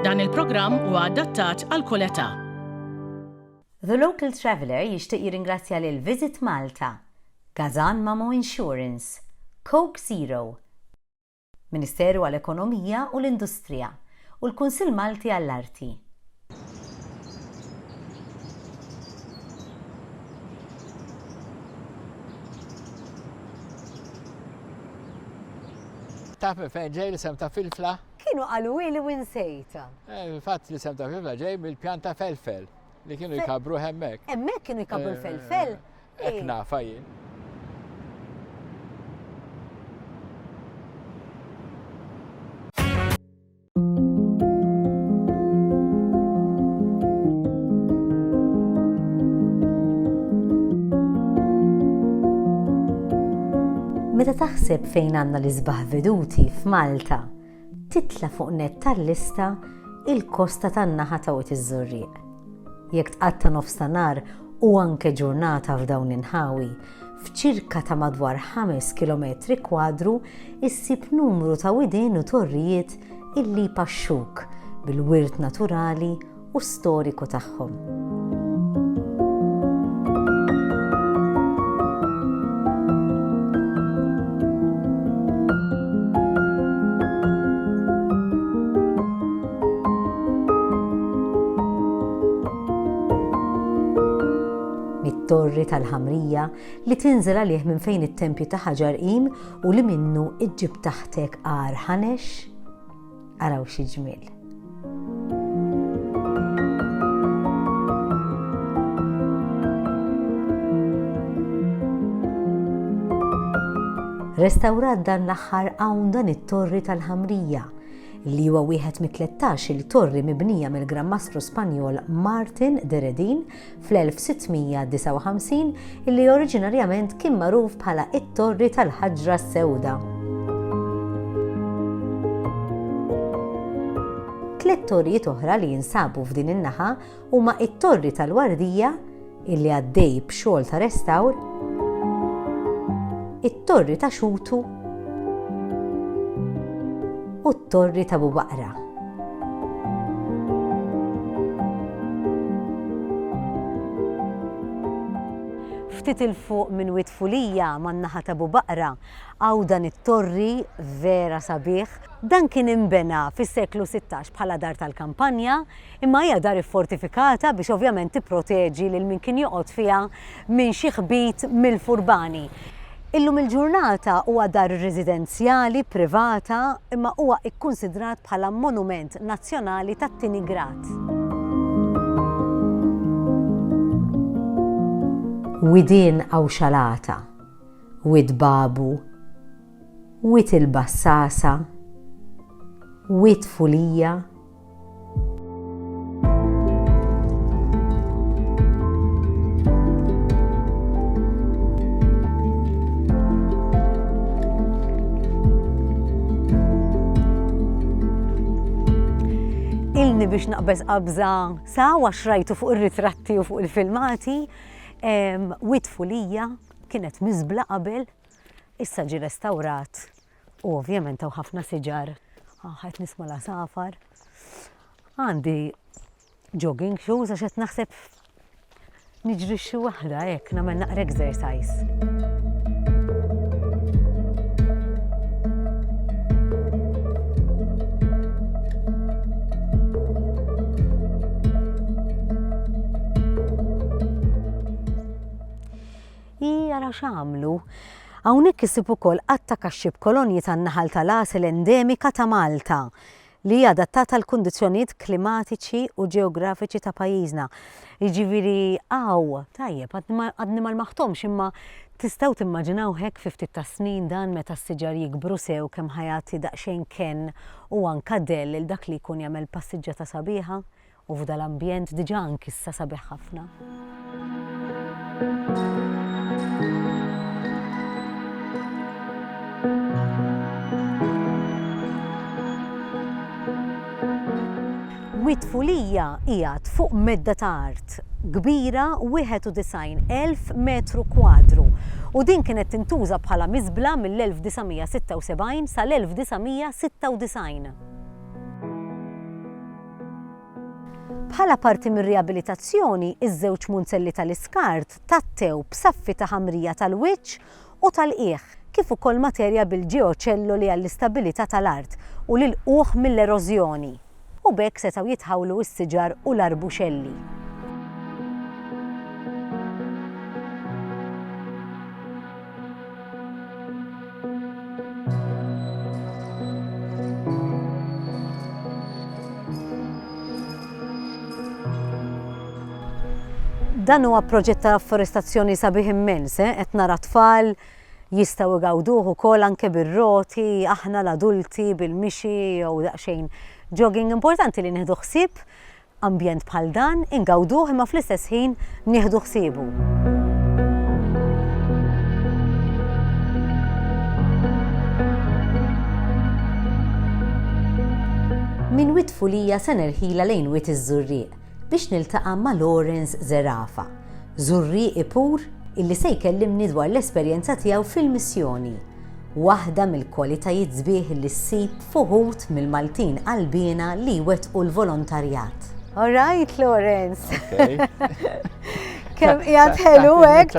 Dan il-programm huwa adattat għal kull età. The Local Traveller jixtieq jirringrazzja lil Visit Malta, Gazan Mamo Insurance, Coke Zero, Ministeru għall-Ekonomija u l-Industrija, u l-Kunsill Malti għall-Arti. Taf minn fejn ġej l-isem ta' filfla? Kienu qaluhieli u insejtha. Fil-fatt l-isem ta' Fifla ġej mill-pjan ta' felfel li kienu jkabbruh hemmhekk. Hemmhekk kienu jkabbru l-felfel? Hekk nafha jien. Meta taħseb fejn għandna l-isbaħ veduti f'Malta, titla' fuq nett tal-lista il-kosta tan-naħa ta' Wied iż-Żurrieq. Jekk tqatta' nofs ta' nhar u anke ġurnata f'dawn l-inħawi, f'ċirka ta' madwar ħames kilometri kwadru issib numru ta' widien u torrijiet illi jpaxxuk bil-wirt naturali u storiku tagħhom. mit-torri tal-ħamrija li tinżel għalih minn fejn it-tempju ta' ħaġar qim u li minnu iġġib taħtek għar ħanex Araw xi ġmiel. restawrat dan l-aħħar hawn dan it-torri tal-ħamrija li huwa wieħed mit-13 il-torri mibnija mill-Gran Mastru Spanjol Martin Deredin fl-1659 illi oriġinarjament kien magħruf bħala it-Torri tal-Ħaġra s-Sewda. Tliet torrijiet oħra li jinsabu f'din in-naħa huma it-Torri tal-Wardija illi għaddej b'xogħol ta' restawr, it-Torri ta' Xutu u t-Torri ta' Bubaqra. Ftit il fuq minn Wied Fulija man-naħa ta' Bubaqra hawn dan it-torri vera sabiħ. Dan kien inbena fis-seklu sittax bħala dar tal-kampanja, Imma hija dar iffortifikata biex ovvjament tipproteġi lil min kien joqgħod fiha minn xi ħbit mill-furbani. Illum il-ġurnata huwa dar residenzjali privata imma huwa kkunsidrat bħala monument nazzjonali tat-tieni grad. Widien Għawxalata, Wied Babu, Wied il-Bassasa, Wied Fulija, Ilni biex naqbeż qabża sa wa xrajtu fuq ir-ritratti u fuq il-filmati, witfu lija kienet miżbla qabel issa ġi restawrat u ovvjament hawn ħafna siġar, ah qed nisma' l-għasafar. Għandi jogging shoes għax qed naħseb niġri xi waħda hekk nagħmel naqra exercise. Hi, ara x'għamlu! Hawnhekk issib ukoll għadd ta' kaxxi b'kolonji tan-naħal tal-għasel endemika ta' Malta, li hija adattata għall-kundizzjonijiet klimatiċi u ġeografiċi ta' pajjiżna. Jiġifieri hawn, tajjeb, għadni ma lmaħthomx imma tistgħu timmaġinaw hekk fi ftit tas-snin dan meta s-siġar jikbru sew kemm ħa jagħti daqsxejn kenn u anka dell lil dak li jkun jagħmel passiġġata sabiħa u f'dan l-ambjent diġà ank'issa sabiħ ħafna. Wied Fulija qiegħed fuq medda ta' art kbira 91,000 metru kwadru u din kienet tintuża bħala miżbla mill-1976 sal-1996. Bħala parti mir-riabilitazzjoni, iż-żewġ munzelli tal-iskart tgħattew b'saffi ta' ħamrija tal-wiċċ u tal-qiegħ, kif ukoll materja bil-ġeoċelloli għall-istabilità tal-art u l-ilqugħ mill-erożjoni, u b'hekk setgħu jitħawlu s-siġar u l-arbuxelli. Dan huwa proġett ta' afforestazzjoni sabiħ immens, eh? qed nara tfal jistgħu igawduh ukoll anke bir-roti, aħna l-adulti bil-mixi jew daqsxejn jogging importanti li nieħdu ħsieb Ambjent bħal dan ingawduh imma fl-istess ħin nieħdu ħsiebu. Minn Wied Fulija se nerħilha lejn Wied iż-Żurrieq biex niltaqa' ma' Lawrence Zerafa, Żurrieqi pur illi se jkellimni dwar l-esperjenza tiegħu fil-missjoni. waħda mill-kwalitajiet sbieħ li ssib f'uħud mill-Maltin qalbiena li jwettqu l-volontarjat. All right, Lawrence. Kem jgħad ħelu hekk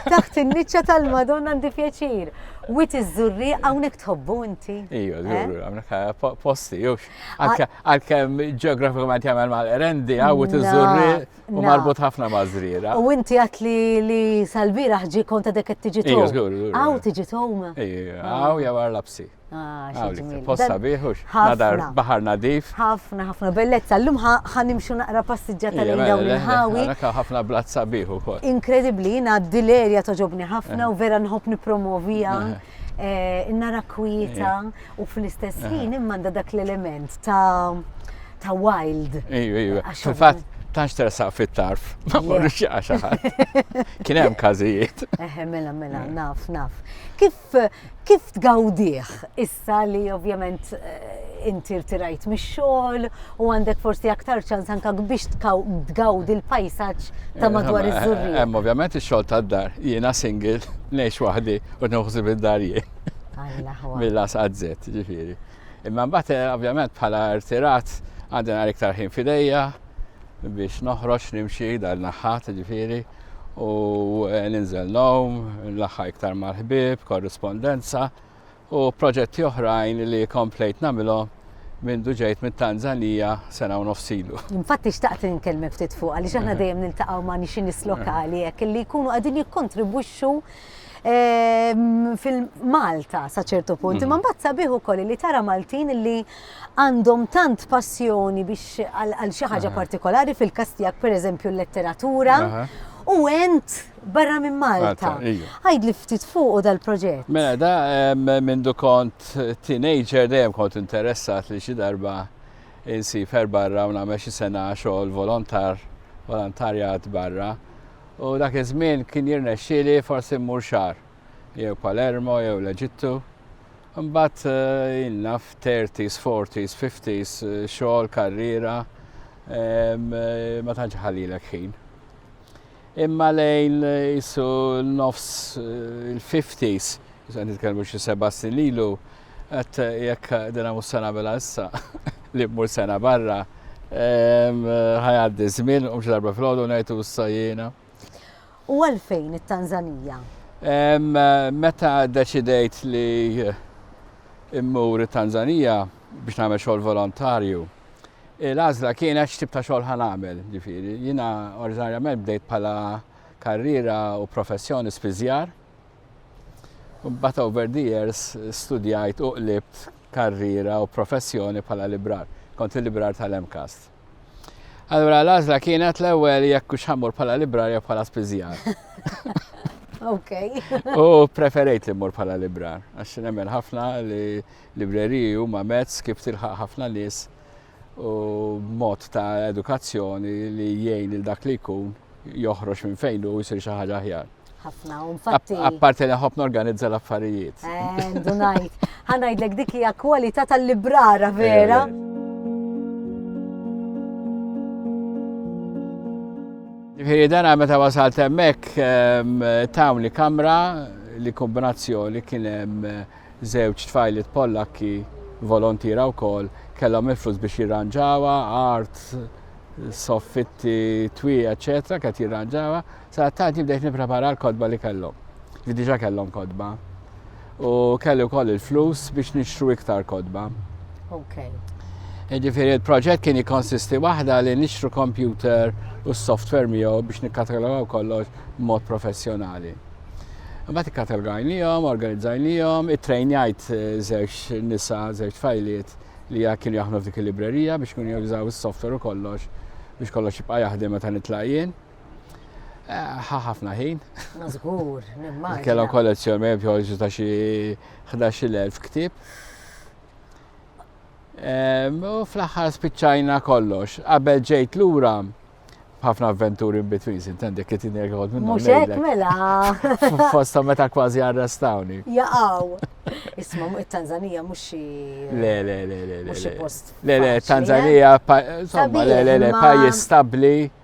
taħt in-niċċa tal-Madonna għandi pjaċir. Wit iż-żurri hawnhekk tħobbu inti. Iju, eh? żurri hawnhekk eh, posti, jux. Għalkemm ġeografikament jagħmel mal-rendi, għawit iż-żurri. U marbut ħafna ma' zrira. U inti għat li li salbira ħġi konta dek t-tġi tom. Għaw tġi tom. Għaw jawar lapsi. Posta biħux, nadar bahar nadif. ħafna, ħafna bellezza. L-lum ħanimxu naqra passiġġa tal dawn il-ħawi. ħafna blazza biħu. Inkredibli, jina d-dilerja toġobni ħafna u vera nħob nipromovija. Nara kwieta u fl-istess ħin imman dak l-element ta' ta' wild. Ejju, ejju. Fil-fatt, tanx tersaq fit-tarf, ma morrux jaqa xaħat. Kien hemm każijiet. Eħe, mela, mela, eh. naf, naf. Kif kif tgawdih issa li ovvjament eh, inti rtirajt mix-xogħol u għandek forsi aktar ċans anka biex tgawdi l-pajsaġġ ta' eh, madwar iż-żurri. Hemm ovvjament ix-xogħol tad-dar, jiena single, ngħix waħdi u nħuħsib id-dar jien. Mill-as għazzet, ġifieri. Imma mbagħad eh, ovvjament bħala rtirat għandi nhar iktar ħin fidejja biex noħroġ nimxi dal naħħat ġifieri u eh, ninżel nom, l-aħħa iktar mal-ħbib, korrispondenza u proġetti oħrajn li komplejt namilhom minn duġejt mit tanzanija sena u nofsilu. Infatti xtaqt nkellmek ftit fuq għaliex aħna dejjem niltaqgħu ma' nixin lokali hekk li jkunu qegħdin jikkontribwixxu fil-Malta sa ċertu punt, imma mbagħad sabiħ ukoll li tara Maltin li għandhom tant passjoni biex għal xi ħaġa partikolari fil-każ tiegħek pereżempju l-letteratura u ent barra minn Malta. Għajd li ftit fuq u dal-proġett. Mela da minn kont teenager dejjem kont interessat li xi darba insifer barra u nagħmel xi sena xogħol volontar, volontarjat barra. U dak iż-żmien kien jirnexxieli forsi mmur xahar, jew Palermo jew l-Eġittu. Imbagħad eh, jien naf 30s, 40s, 50s, xogħol, karriera, eh, ma tantx ħallilek ħin. Imma lejn jisu nofs eh, il-50s, jisu għan nitkellmu xi seba' snin lilu, Għat jekk dina mhux se nagħmilha issa li mmur sena barra ħajgħaddi żmien u darba fil-għodu ngħidu issa jiena. U għalfejn it-Tanzanija? Meta deċidejt li immur it-Tanzanija biex nagħmel xogħol volontarju, l-għażla kienet x'tib ta' xogħol ħan nagħmel, ġifieri. Jiena oriġinarjament bdejt bħala karriera u professjoni spiżjar Mbagħad over the years studjajt u qlibt karriera u professjoni bħala librar. Kont il-librar tal-MCAST. Allura l-għażla kienet l-ewwel jekk hux ħammur bħala librar jew bħala spiżjar. Ok. U preferejt li mmur bħala librar, għax nemmen ħafna li libreriji huma mezz kif tilħaq ħafna nies u mod ta' edukazzjoni li jgħin il dak li jkun joħroġ minn fejn u jsir xi ħaġa aħjar. ħafna, u infatti. Apparti li ħobb norganizza l-affarijiet. Eh, dunajt. Ħanajdlek dik hija kwalità tal-librara vera. Eh, Ġifieri dana meta wasalt hemmhekk ehm, tawn li kamra li kombinazzjoni kien hemm eh, żewġ tfajlit Pollakki volontira wkoll kellhom il-flus biex jirranġawa, art, soffitti, twi, eċetera, kien jirranġawa. Sadattant jien bdejt nipprepara l-kotba li kellhom, li diġà kellhom kotba. U kelli wkoll il-flus biex nixtru iktar kotba. Okay. Ġifieri il-proġett kien jikkonsisti waħda li nixtru kompjuter u s-software miegħu biex nikkatalogaw kollox b'mod professjonali. Mbagħad ikkatalogajnihom, organizzajnihom, ittrejnjajt eh, żewġ nisa, żewġ fajliet li kienu jaħdmu f'dik il-librerija biex kienu jużaw is-software u kollox biex kollox jibqa' jaħdem meta nitlaq jien. Ħa ħafna ħin. Mażgur, nimmaġin. Kellhom kollezzjoni mejb joħorġu ta' xi 11,000 ktieb. U fl-aħħar spiċċajna kollox. Qabel ġejt lura ħafna avventuri in between, intendi kiet injek għod minnu. Mux hekk mela. Fosta meta kważi arrestawni. Jaqaw. Isma, it-Tanzanija mux xi. Le, le, le, le. Mux post. Le, le, Tanzanija, insomma, le, le, le, pajis stabli.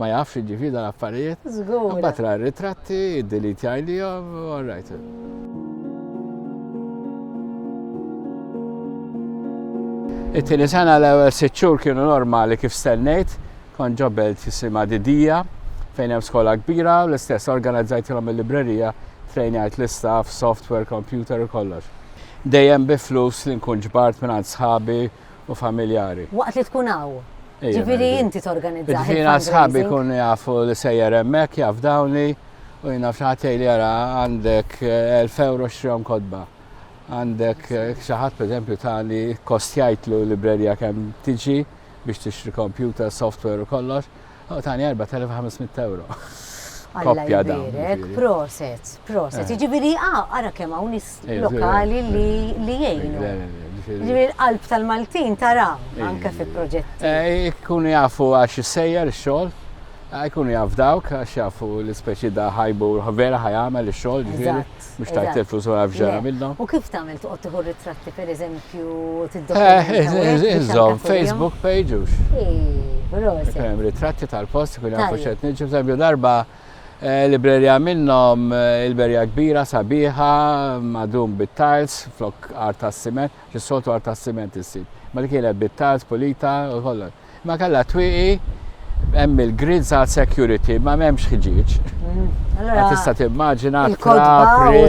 Ma jafx jiġifieri dan affarijiet. Żgur. Imbagħad ra ritratti, iddelitja għalihom, all right. It-tieni sena l-ewwel sitt xhur kienu normali kif stennejt, kont ġobel tisimha Didija fejn hemm skola kbira u l-istess organizzajtilhom il-librerija trejnajt l-istaff, software, computer u kollox. Dejjem bi flus li nkun ġbart minn sħabi u familjari. Waqt li tkun hawn. Ġifieri inti torganizza. Ġifieri għal sħabi jkunu jafu li sejjer hemmhekk, jaf dawni u jien naf xi ħadd jgħidli ara għandek 1000 euro xtrihom kotba. Għandek xi ħadd pereżempju tali kostjajtlu librerija kemm tiġi biex tixtri kompjuter, software u kollox, U tani 4500 euro. Koppja da. Proset, proset. Eh. Ġibiri, ah, ara kemm hawn nis eh, lokali li li jgħinu. Ġibiri l-qalb tal-Maltin tara eh. anke fi proġetti. Jkunu jafu għax sejjer xogħol jkunu jaf dawk għax jafu l-ispeċi da ħajbu vera ħajamel ix-xogħol ġifieri. Mhux tajb telfus wara f'ġara minnha. U kif tagħmel toqgħod tieħu ritratti pereżempju tiddokumenta. Inżomm Facebook page ux. Hemm ritratti tal-post ikun jafu x'qed niġu bżempju darba eh, librerja minnhom eh, il-berja kbira sabiħa madum bit-tiles flok art tas-siment, xis-soltu art tas-siment issib. Ma li kienet bit-tiles pulita u kollha. Ma kellha twieqi hemm il-grids għal security ma m'hemmx ħġieġ. Mm. Allora tista' timmaġina trapri.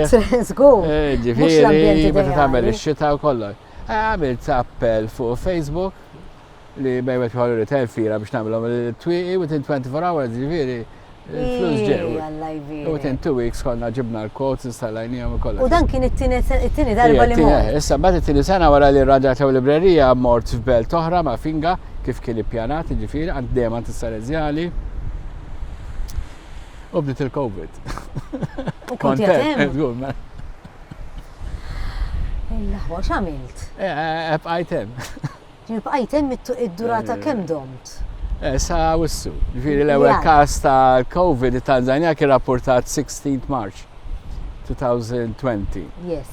Żgur. Eh, ġifieri meta tagħmel ix-xita u kollox. Eh, għamilt appell fuq Facebook li bejwet bħal retail fira biex nagħmlhom il-twieqi within 24 hours ġifieri Il-flus ġew. Alla jbir. U tin two weeks konna ġibna l-quotes, installajnijom u kollha. U dan kien it-tini darba li mor. Issa bat it-tini sena wara li rraġatew librerija mort f'belt oħra ma' finga kif kien ippjanat ġifiri għand dejjem għand is-Salezjali. U bdiet il-Covid. U kont jatem. Illa ħwa x'għamilt? Ebqajtem. Ġifieri bqajt hemm id-durata kemm domt? Eh, sa wissu. Ġifieri l-ewwel każ ta' COVID it-Tanzania kien rapportat 16 March 2020. Yes.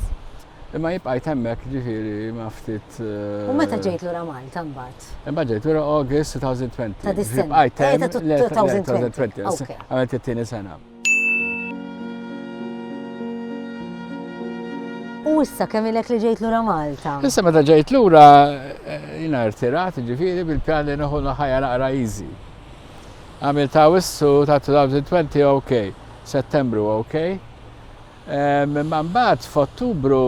Imma jibqajt hemmhekk ġifieri ma ftit. Eh, U meta ġejt lura Malta mbagħad? Imma ġejt lura August 2020. Ta' dis-sena. Bqajt eh, hemm 2020. Għamilt it-tieni sena. U issa kemm ilek li ġejt lura Malta? Issa meta ġejt lura eh, jina rtirat ġifiri bil-pjan li nħu ħajja naqra easy. Għamil ta' wissu ta' 2020 ok, settembru ok. Imma eh, mbagħad f'Ottubru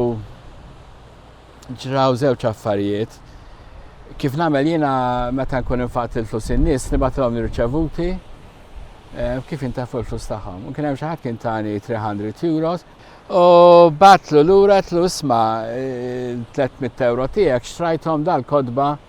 ġraw żewġ affarijiet. Kif nagħmel jiena meta nkun infaqt il-flus in-nies nibgħatilhom nirċevuti eh, kif intafu l-flus tagħhom. U kien hemm xi ħadd kien tani 300 euros u batlu lura tlu isma' 300 eh, euro tiegħek xtrajthom dal-kodba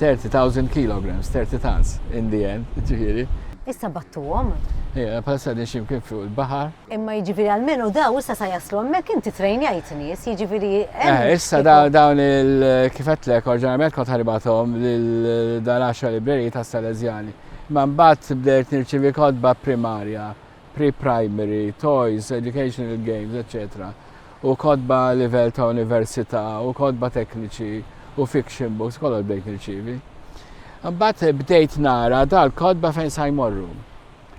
30,000 kilograms, 30 tons, in the end, ġifiri. Issa battuhom. Ija, palissa din ximkien fuq il-bahar. Imma jiġifieri għalmenu daw issa sa jaslu hemmhekk inti trejnjajt nies, jiġifieri. Eh, issa dawn il kifetlek orġinarjament kont ħaribathom lil dan għaxar libreri ta' Salezjani. Ma mbagħad bdejt nirċivi kodba primarja pre-primary, toys, educational games, eċċetera u kotba livell ta' università u kotba tekniċi u fiction books kollha bdejt nirċievi. Mbagħad bdejt nara dal-kotba fejn sa jmorru.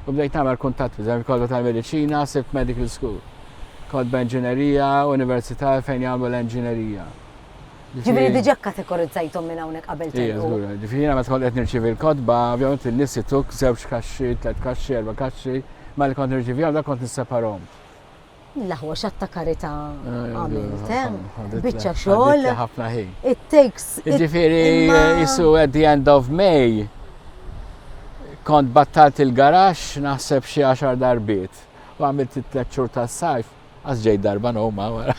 U bdejt nagħmel kuntatt biżem kotba tal-mediċina, sibt medical school. Kotba inġinerija, università fejn jagħmlu l-inġinerija. Ġifieri diġà kkategorizzajthom minn hawnhekk qabel telqu. Ejja, żgur. Ġifieri jiena meta kont qed nirċievi l-kotba, ovvjament in-nies jituk żewġ kaxxi, tliet kaxxi, erba' kaxxi, mela li kont nirċievihom dak kont nisseparahom. L-aħwa x'att ta' karità għamilt, eh? Biċċa xogħol. Ħafna ħin. It takes. Ġifieri jisu at the end of May kont battalt il-garax naħseb xi għaxar darbiet u għamilt it-tliet xhur tas-sajf Għax ġejt darba noma wara.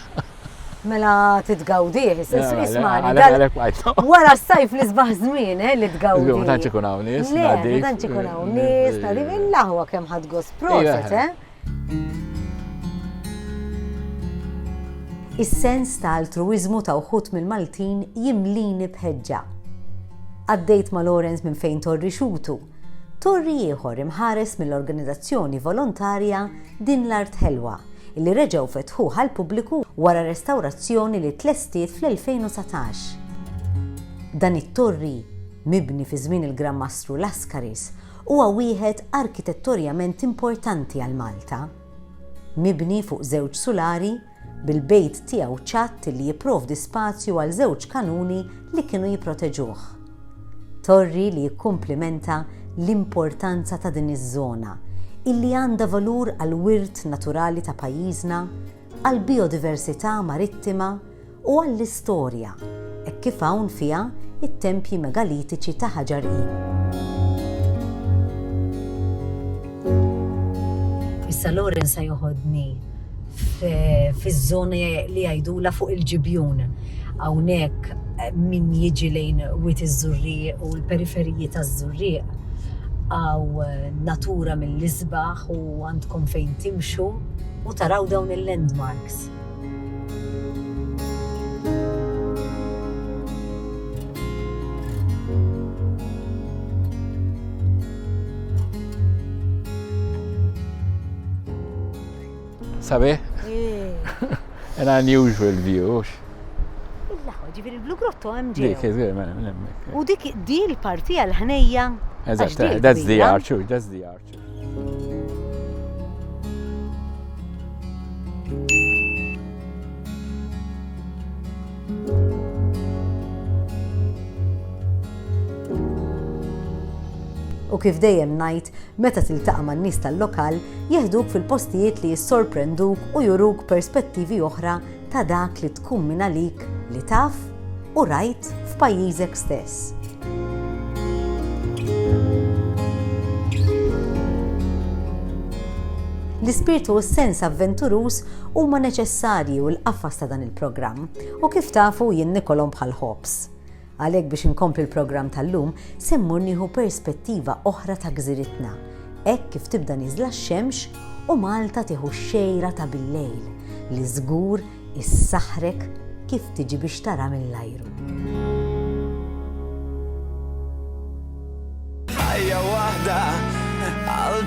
Mela titgawdih, ismani. Wara s-sajf li sbaħ żmien eh, li tgawdih. Ma tantx ikun hawn nies, ma tantx ikun hawn nies, nadi mill-aħwa kemm ħadd gost proset, eh. Is-sens ta' altruiżmu ta' uħud mill-Maltin jimlini bħeġġa. Għaddejt ma' Lawrence minn fejn torri xutu, Torri ieħor imħares mill-organizazzjoni volontarja Din l-Art Ħelwa, illi reġgħu fetħuh għall-pubbliku wara restawrazzjoni li tlestiet fl-2019. Dan it-torri, mibni fi żmien il-Gran Mastru Laskaris, huwa wieħed arkitettorjament importanti għal Malta. Mibni fuq żewġ sulari, bil-bejt tiegħu ċatt li jipprovdi spazju għal żewġ kanuni li kienu jipproteġuh. Torri li jikkumplimenta l-importanza ta' din iż-żona, illi għandha valur għall-wirt naturali ta' pajjiżna, għall-bijodiversità marittima u għall-istorja, hekk kif hawn fiha t-tempji megalitiċi ta' Ħaġar I. Issa Lauren se joħodni fiż-żona li jgħidulha fuq il-Ġibjun. Hawnhekk min jiġi lejn Wied iż-Żurrieq u l-periferiji taż-Żurrieq hawn natura mill-isbaħ u għandkom fejn timxu u taraw dawn il-landmarks. Sabiħ? An unusual view, ux? Illaħu, ġifir il-Blue Grotto hemm ġej. Dik, dik, mela, mela, mela. U dik di l-parti għal-ħnejja. Eżatt, eh, that's the archer, that's the archer. U kif dejjem ngħid, meta tiltaqa' man-nies tal-lokal, jeħduk fil-postijiet li jissorprenduk u juruk perspettivi oħra ta' dak li tkun mingħalik li taf u rajt f'pajjiżek stess. L-ispirtu u s-sens avventuruż huma neċessarji u l-qafas ta' dan il-programm, u kif tafu jien nikolhom bħal ħobż. Għalhekk biex inkompli l-programm tal-lum se mmur nieħu perspettiva oħra ta' gżiritna, hekk kif tibda nieżla x-xemx u Malta tieħu x-xejra ta' billejl li żgur issaħħrek kif tiġi biex tara mill-ajru. ħajja waħda għal